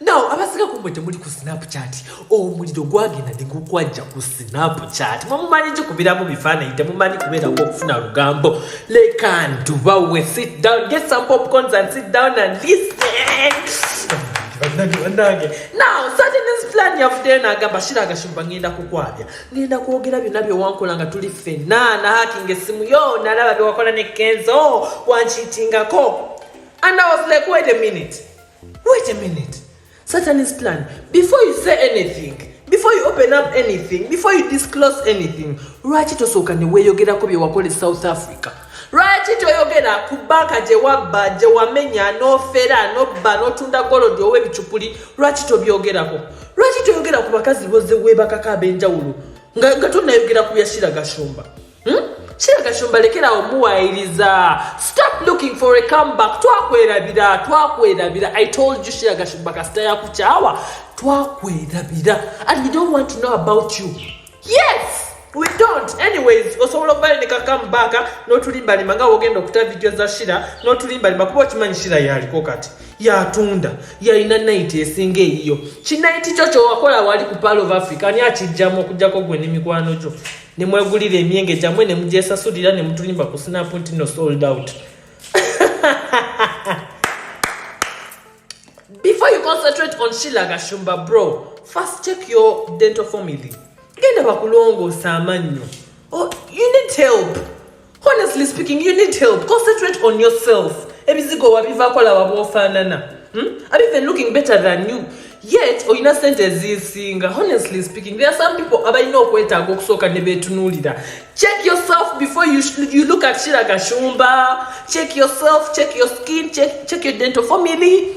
naw abasika kumwe temuli ku snapchat omuliro gwagenda nigukwajja ku snapchat mwemumanyi gikubiramu bifaananyi temumanyi kubeerako okufuna lugambo lekantubawe sit down get some popcorns and sit down and listen banange banange naw satin's plan yavuddeyo nagamba shira agashumba ngenda kukwabya ngenda kwogera byonna byewankola nga tuli ffenna nahakinga essimu yo nalaba byewakola ne kenzo wankiitingako and i was like wait a minute Wait a minute. Satanist plan. Before you say anything, before you open up anything, before you disclose anything, lwaki tosooka ne weeyogerako bye wakola e South Africa? Lwaki toyogera ku banka gye wabba, gye wamenya, n'ofera, n'obba, n'otunda golodi owa ebicupuli? Lwaki tobyogerako? Lwaki toyogera ku bakazi boze weebakako ab'enjawulo nga tonayogera ku bya Shira Gashumba? Hmm? Sheila Gashumba lekera omuwayiriza. Stop looking for a comeback. Twakwerabira, twakwerabira. I told you Sheila Gashumba kasita yakuchawa. Twakwerabira. And we don't want to know about you. Yes! We don't. Anyways, osobola okubale ne kakamu baka n'otulimba limba nga wogenda okuta video za Sheila n'otulimba limba kuba okimanyi Sheila yaliko kati. Yatunda. Yalina night esinga eyiyo. Kinaiti kyo kyo wakola wali ku Pearl of Africa ani akijjamu okujjako gwe n'emikwano gyo. ne mwegulira emyenge gyamwe ne mugyesasulira ne mutulimba ku sinapu nti no sold out before you concentrate on shila gashumba bro first check your dental family genda bakulongoosa amannyo oh, you need help honestly speaking you need help concentrate on yourself ebizigo wabivako laba bwofaanana hmm? are even looking better than you yet olina sente ezisinga honestly speaking there are some people abalina okwetaaga okusooka ne beetunuulira check yourself before you, you look at shira gashumba check yourself check your skin check, check your dental family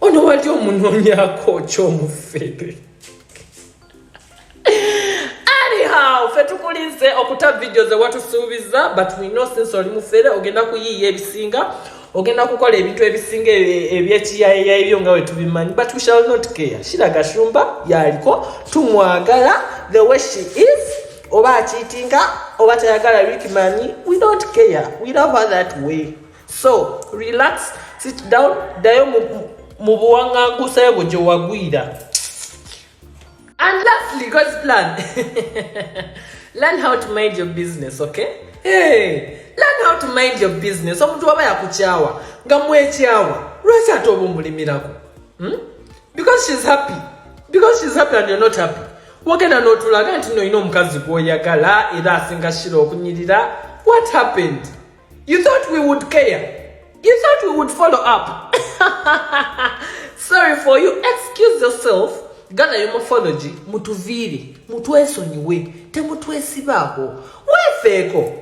Ono wali omunonyako kyomufere. Anyhow, fe tukulinze okuta video ze watu suubiza but we know since oli mufere ogenda kuyiiya ebisinga ogenda kukola ebintu ebisinga ebyekiyayeya ebyo nga wetubimanyi but we shall not care shira gashumba yaliko tumwagala the way she is oba akiitinga oba tayagala rickmani we don't care we love her that way so relax sit down ddayo mu buwaŋŋangusayo bwe gye wagwira and lastly god's plan learn how to mind your business okay hey, learn how to mind your business omuntu waba yakukyawa nga mwekyawa lwaki ate oba omulimirako hmm? because she's happy because she's happy and you're not happy wagenda n'otulaga nti nolina omukazi gwoyagala era asinga shira okunyirira what happened You thought we would care. You thought we would follow up. Sorry for you. Excuse yourself. Gana yo morphology. Mutuviri. Mutueso niwe. Temutwesibaho. Wefeko.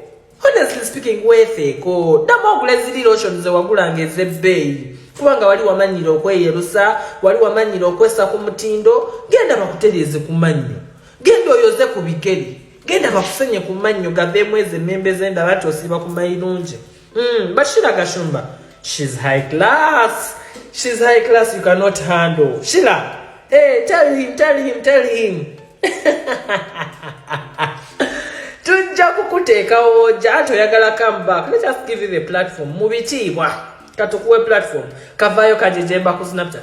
Honestly speaking, wefeko. Dama ogule zili lotion ze wagula ngeze bei. Kuwanga wali wamanyiro kwe yerusa. Wali wamanyiro kwe sa kumutindo. Genda makuteleze kumanyo. Gendo yoze kubikeri. genda bakusenye ku mannyo gaveemu ezo emmembe z'endaba nti osiiba ku mayirungi hmm, bashira gashumba shes high class shes high class you cannot handle shila hey, eh, tell him tell him tell him tujja kukuteekawo ojja ati oyagala come back let us give you the platform mu bitiibwa katukuwe platform kavaayo kajejemba ku snapchat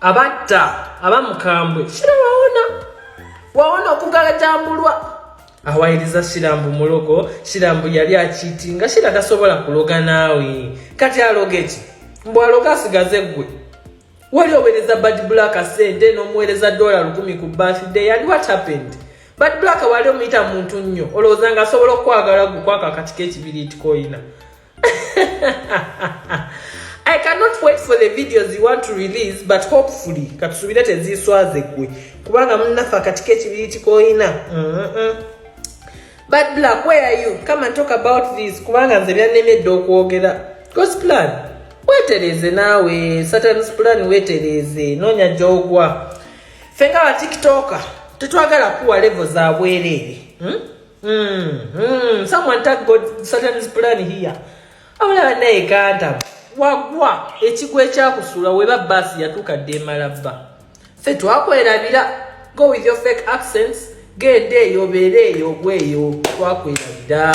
abatta abamukambwe shira wawona wawona okugalajambulwa awayiriza shirambu mulogo shirambu yali akiti nga shira tasobola kuloga naawe kati aloga eki mbu aloga asigaze ggwe wali owereza bad black sente n'omuwereza dola lukumi ku birthday yali what happened bad black wali omuyita muntu nnyo olowooza nga asobola okukwagala gwe kwako akatiko ekibiriitikoyina I cannot wait for the videos you want to release but hopefully katusubire teziswaze gwe kubanga munnaffe akatiko ekibiri kikoyina but black where are you come and talk about this kubanga nze byannemedde okwogera god's plan wetereeze naawe satans plan wetereeze noonya gyogwa ffe nga batiktoka tetwagala kuwa levo za bwereere hmm? Mm, mm, someone tag God Satan's plan here. Abula naye kanta wagwa ekigwa ekyakusula weba basi yatuka demala ba. Fe twakwerabira go with your fake accents gende eyo bere eyo gweyo twakwerabira.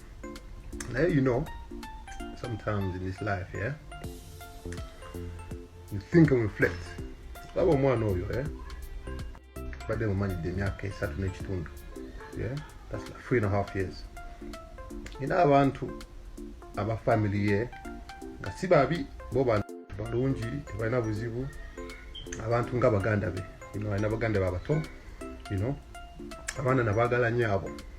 Now you know, sometimes in this life, yeah, you think and reflect. That one more know you, yeah. But then money the myaka esatu n'ekitundu, yeah. That's like three and a half years. You know abantu aba family ye nga si babi bo bantu balungi tebalina buzibu abantu nga baganda be you know, alina baganda be abato you know, abaana nabagala nyo abo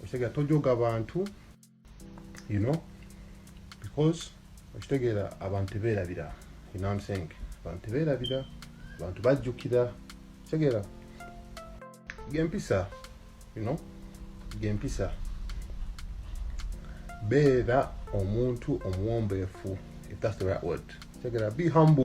okitegera tojoga bantu you know because okitegera abantu teberabira you know I'm saying abantu teberabira abantu bajjukira kitegera gempisa you know gempisa beera omuntu omuwombeefu if that's the right word kitegera be humble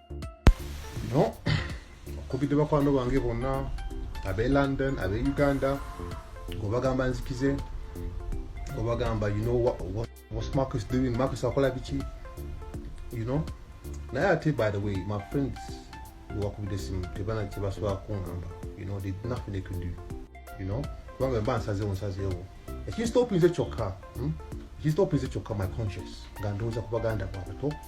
no okubidde bakwano bange bonna abe london abe uganda obagamba nzikize obagamba you know what, what, what mark is doing mark is akola biki you know naye ate by the way my friends wakubidde simu tebana kyebasobola kungamba you know they nothing they could do you know kubanga mba nsazewo nsazewo ekinstopinze kyokka hmm? ekinstopinze kyokka my conscious nga ndowooza ku baganda bwabato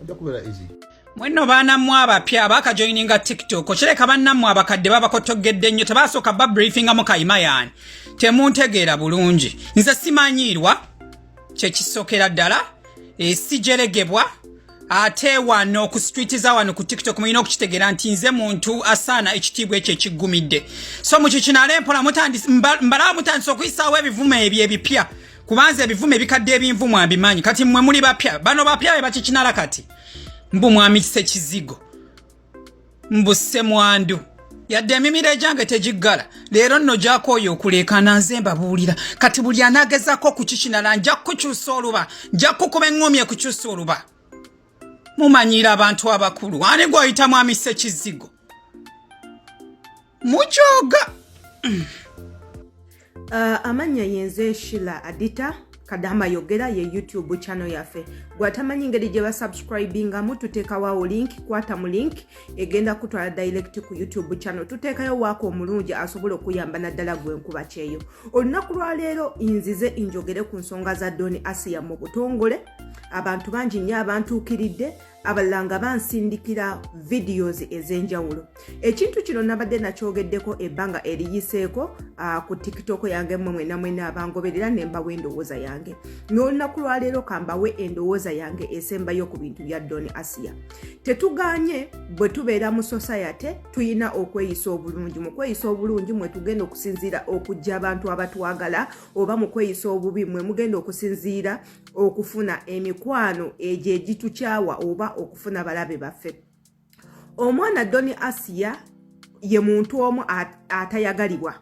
ojja kubeera easy mwenno baana mmwe abapya abaakajoyininga tiktok okireka bannammwe abakadde babakotoggedde nnyo tebaasooka babriefingamu kayima yaani temuntegeera bulungi nze simanyiirwa kyekisokera ddala esijeregebwa eh, ate wano ku street za wano ku tiktok mulina okukitegeera nti nze muntu asaana ekitiibwa ekyo ekiggumidde so mukyo kinale mpola mbalaba mutandisa okuyisaawo ebivumo ebyo ebipya kubanza ebivumo ebikadde ebinvu mwabimanyi kati mwe muli bapya bano bapya be bakikinala kati mbu mwami sekizigo mbu semwandu yadde emimiro egyange tegiggala leero nno gyakooyo okuleekaana nze mbabuulira kati buli anagezako okukikinala nja kukukyusa oluba nja kukuba eŋŋomi ekukyusa oluba mumanyiira abantu abakulu ani gwoyita mwami sekizigo mukyoga uh, amannya yenze nshila adita kadama yogera ye youtube channel yaffe gwatamanyi ngeri gye basubscribingamu tuteekawawo link kwata mu link egenda kutwala direct ku youtube channel tuteekayo waako omulungi asobola okuyamba naddala gwenkuba kyeyo olunaku lwaleero nzize injogere ku nsonga za doni asiya mu butongole abantu bangi nnyo abantuukiridde abalala nga bansindikira videos ez'enjawulo ekintu kino nabadde nakyogeddeko ebbanga eriyiseeko ah, ku tiktok yange mwe mwena mwena abangoberera ne mbawa endowooza yange n'olunaku lwaleero kambawe endowooza yange esembayo ku bintu bya don asiya tetuganye bwe tubeera mu sosayate tulina okweyisa obulungi mu kweyisa obulungi mwe tugenda okusinziira okujja abantu abatwagala oba mu kweyisa obubi mwe mugenda okusinziira okufuna emikwano egyo egitukyawa oba okufuna balabe baffe omwana doni asiya ye muntu omu atayagalibwa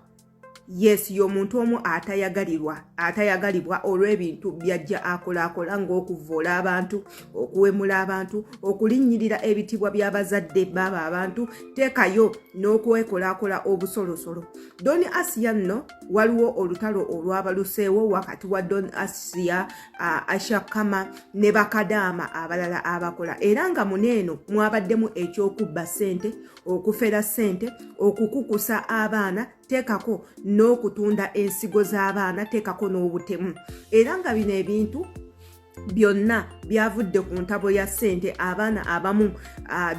yes ye omuntu omu atayagalirwa atayagalibwa olw'ebintu byajja akolaakola ng'okuvvoola abantu okuwemula abantu okulinnyirira ebitibwa by'abazadde baaba abantu teekayo n'okwekolaakola obusolosolo doni asiya nno waliwo olutalo olwabaluseewo wakati wa don asia uh, ashakama ne bakadaama abalala abakola era nga muneeno mwabaddemu ekyokubba ssente okufera ssente okukukusa abaana teekako n'okutunda ensigo z'abaana teekako n'obutemu era nga bino ebintu byonna byavudde ku ntabo ya ssente abaana abamu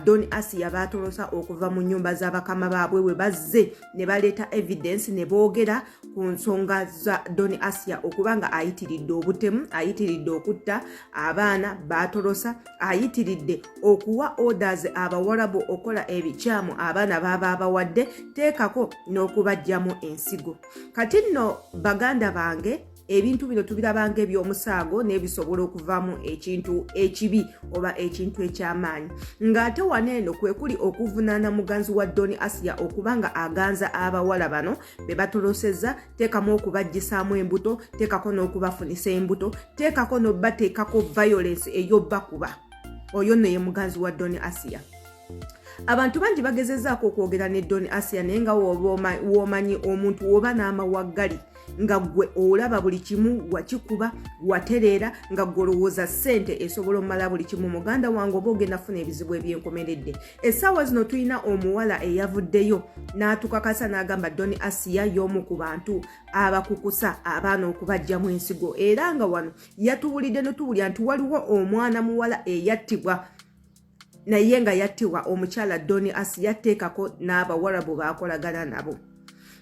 don asiya baatolosa okuva mu nyumba za bakama baabwe we bazze ne baleeta evidence ne boogera ku nsonga za don asiya okuba nga ayitiridde obutemu ayitiridde okutta abaana baatolosa ayitiridde okuwa orders abawarabu okukola ebikyamu abaana baaba abawadde teekako n'okubajjamu ensigo kati nno baganda bange ebintu bino tubirabanga ebyomusaago nebisobola okuvamu ekintu ekibi oba ekintu ekyamaanyi ngaate wano eno kwekuli okuvunaana muganzi wa doni asiya okuba nga aganza abawala bano bebatoloseza teekamu okubajjisaamu embuto teekako n'okubafunisa embuto teekako nobateekako violence eyobakuba oyo nno ye muganzi wa doni asiya abantu bangi bagezezaako okwogera ne don asia naye nga womanyi omuntu woba n'amawaggali nga gwe olaba buli kimu wakikuba watereera nga gwe olowooza ssente esobola omumala buli kimu muganda wange oba ogenda funa ebizibu ebyenkomeredde essaawa zino tulina omuwala eyavuddeyo n'atukakasa n'agamba doni asiya y'omu ku bantu abakukusa abaana okubajjamu ensigo era nga wano yatuwulidde notubulya nti waliwo omwana muwala eyattibwa naye nga yattiwa omukyala doni as yatteekako n'abawarabu baakolagana nabo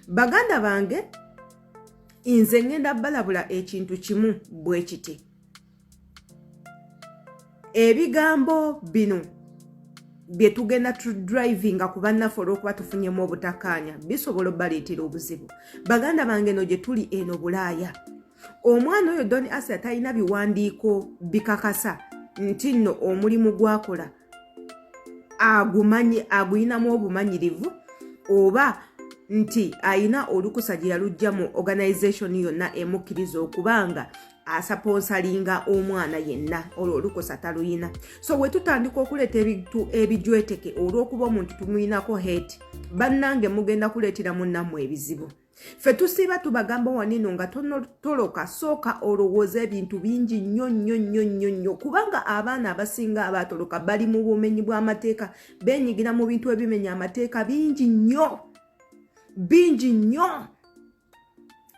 baganda bange nze ngenda balabula ekintu kimu bwe kiti ebigambo bino bye tugenda tudrivinga ku bannaffe olw'okuba tufunyemu obutakaanya bisobola obaleetera obuzibu baganda bange no gye tuli eno bulaaya omwana oyo don asia talina biwandiiko bikakasa nti nno omulimu gwakola agumanyi aguyinamu obumanyirivu oba nti ayina olukusa gye yalujja mu organization yonna emukkiriza okuba nga asaponsalinga omwana yenna olwo olukusa taluyina so we tutandika okuleeta ebintu ebijweteke olw'okuba omuntu tumuyinako hate bannange mugenda kuleetera munnamwe ebizibu ffe tusiiba tubagamba wanino nga tonotoloka sooka olowooza ebintu bingi nnyo nnyo nnyo nnyo nnyo kubanga abaana abasinga abaatoloka bali mu bumenyi bw'amateeka benyigira mu bintu ebimenya amateeka bingi nnyo bingi nnyo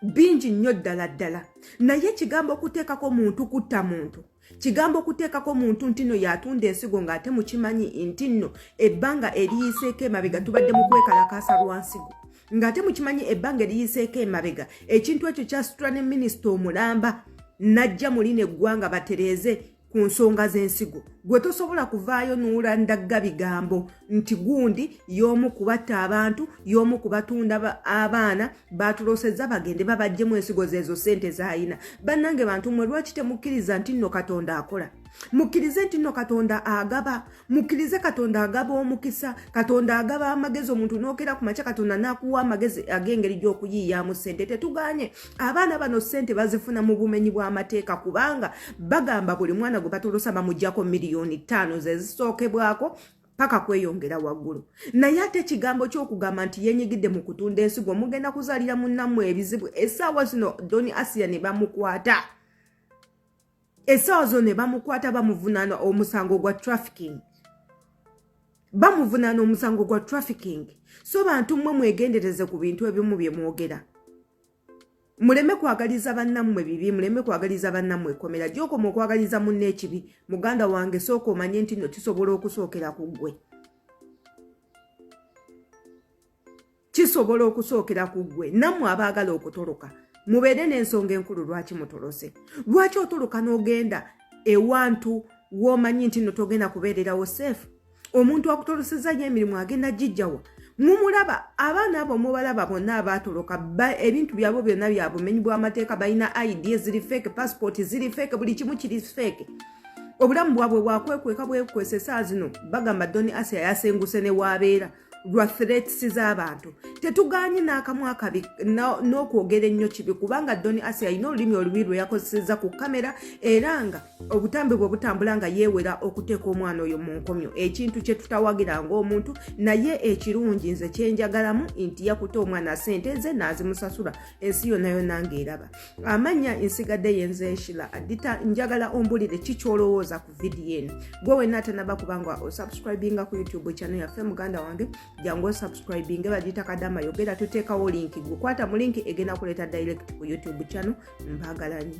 bingi nnyo ddala ddala naye ekigambo okuteekako muntu kutta muntu kigambo okuteekako muntu nti nno yatunda ensigo ng'ate mukimanyi nti nno ebbanga eriyiseeko emabega tubadde mu kwekalakaasa lwa nsigo ng'ate mukimanyi ebbanga eriyiseeko emabega ekintu ekyo kyasitula ne minisita omulamba najja muli neggwanga batereeze ku nsonga z'ensigo gwe tosobola kuvaayo nuula ndagga bigambo nti gundi y'omu kubatta abantu y'omu kubatunda abaana baatulosezza bagende babajjemu ensigo zeezo ssente zaalina bannange bantu mwe lwaki temukkiriza nti nno katonda akola mukkirize nti nno katonda agaba mukkirize katonda agaba omukisa katonda agaba amagezi omuntu n'okeera ku makya katonda n'akuwa amagezi ag'engeri gy'okuyiiyaamu ssente tetuganye abaana bano ssente bazifuna mu bumenyi bw'amateeka kubanga bagamba buli mwana gwe batolosa bamugyako miliyoni ttaano ze zisookebwako paka kweyongera waggulu naye ate ekigambo kyokugamba nti yenyigidde mu kutunda ensigo mugenda kuzalira munamu ebizibu esaawa zino doni asiya ne bamukwata esaawa zino ne bamukwata bamuvunana omusango gwa trafficking bamuvunana omusango gwa trafficking so bantu mmwe mwegendereze ku bintu ebimu bye mwogera muleme kwagaliza bannammwe bibi muleme kwagaliza bannammwe ekomera gyokoma okwagaliza munna ekibi muganda wange sooka omanye nti no kisobola okusookera ku ggwe kisobola okusookera ku ggwe nammwe abaagala okutoloka mubeere n'ensonga enkulu lwaki mutolose lwaki otoloka n'ogenda ewantu w'omanyi nti no togenda kubeererawo seefu omuntu akutoloseza nyo emirimu agenda gijjawa mumulaba abaana abo mubalaba bonna abaatoloka ebintu byabwe byonna bya bumenyi bw'amateeka balina id ziri feeke pasipooti ziri feeke buli kimu kiri feeke obulamu bwabwe bwakwekweka bwekwesa esaa zino bagamba doni asia yasenguse ne waabeera lwa threats z'abantu tetuganye n'akamu akabi n'okwogera ennyo kibi kubanga doni asi alina olulimi olubi lwe yakozeseza ku kamera era nga obutambi bwe butambula nga yeewera okuteeka omwana oyo mu nkomyo ekintu kye tutawagira ng'omuntu naye ekirungi nze kyenjagalamu nti yakuta omwana sente ze n'azimusasula ensi yonna yonna ng'eraba amannya ensigadde yenze eshila adita njagala ombulire ki kyolowooza ku vidiyo eno gwe wenna atanaba kubanga osubscribinga ku youtube channel yaffe muganda wange jangu osubscribinge bagiyita kadama yogera tuteekawo linki gukwata mu linki egenda kuleeta direct ku youtube channel mbagalanyo